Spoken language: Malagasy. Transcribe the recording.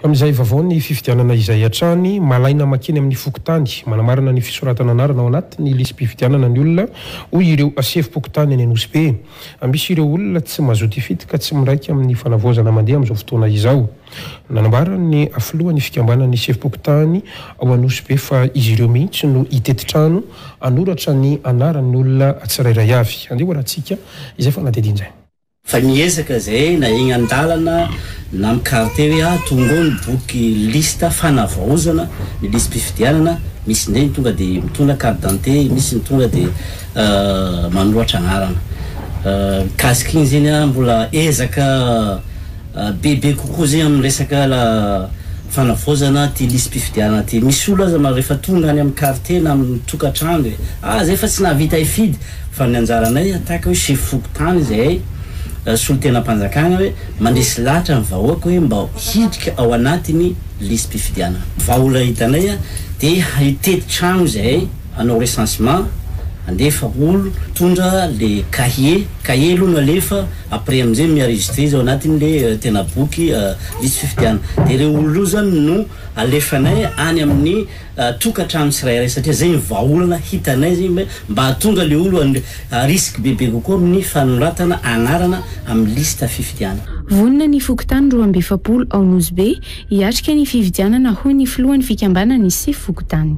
Amin'izay vaovao ny fifidianana izay hatrany, malaina makeny amin'ny fokontany, manamarina ny fisoratana anarana ao anatin'ny lisi-pifidianana ny olona, hoy ireo sefom-pokontany any Anosibe. Misy ireo olona tsy mazoto hifidy ka tsy miraika amin'ny fanavaozana mandeha amin'izao fotoana izao. Nanambara ny filohan'ny fikambanan'ny sefom-pokontany ao Anosibe fa izy ireo mihitsy no hitety trano hanoratra ny anaran'ny olona tsirairay avy. Andeha ho arahintsika izay fanadihadiana izay. Fa niezaka izay na egny an-dalana na micarte hoe ah tonga ao ny boky liste fanavaozana ny lisi-pifidianana, misy indray ny tonga dia mitondra carte d'identité, misy ny tonga dia manoratra anarana. Mikasika igny zegny ah mbola ezaka bebe kokoa zegny amin'ny resaka fanavaozana ty lisi-pifidianana ty. Misy olo aza manao rehefa tonga any amin'ny carte na amin'ny tokantrano hoe ah zay fa tsy nahavita hifidy, Fa ny anjaranay en tant que hoe chef fokontany izahay solontenam-panjakana hoe mandresy lahatra ny vahoaka hoe mba hiditra ao anatin'ny lisi-pifidianana. Vahaolana hitanay dia hitety trano izahay hanao recensement, handefa olo, mitondra le cahier, cahier aloha no alefa après amin'izay mi enregistrer izy ao anatin'ny le tena boky lisi-fifidianana. Dia ireo olona ireo izany no alefanay any amin'ny. tokantrano tsirairay satria zay ny vahaolana hitanay zay hoe mba hahatonga le olo à risque bebe kokoa amin'ny fanoratana anarana amin'ny liste fifidianana. Vonona ny fokontany roa amby efapolo ao Nosy Be hiatrika ny fifidianana hoy ny filohan'ny fikambanan'ny sefo fokontany.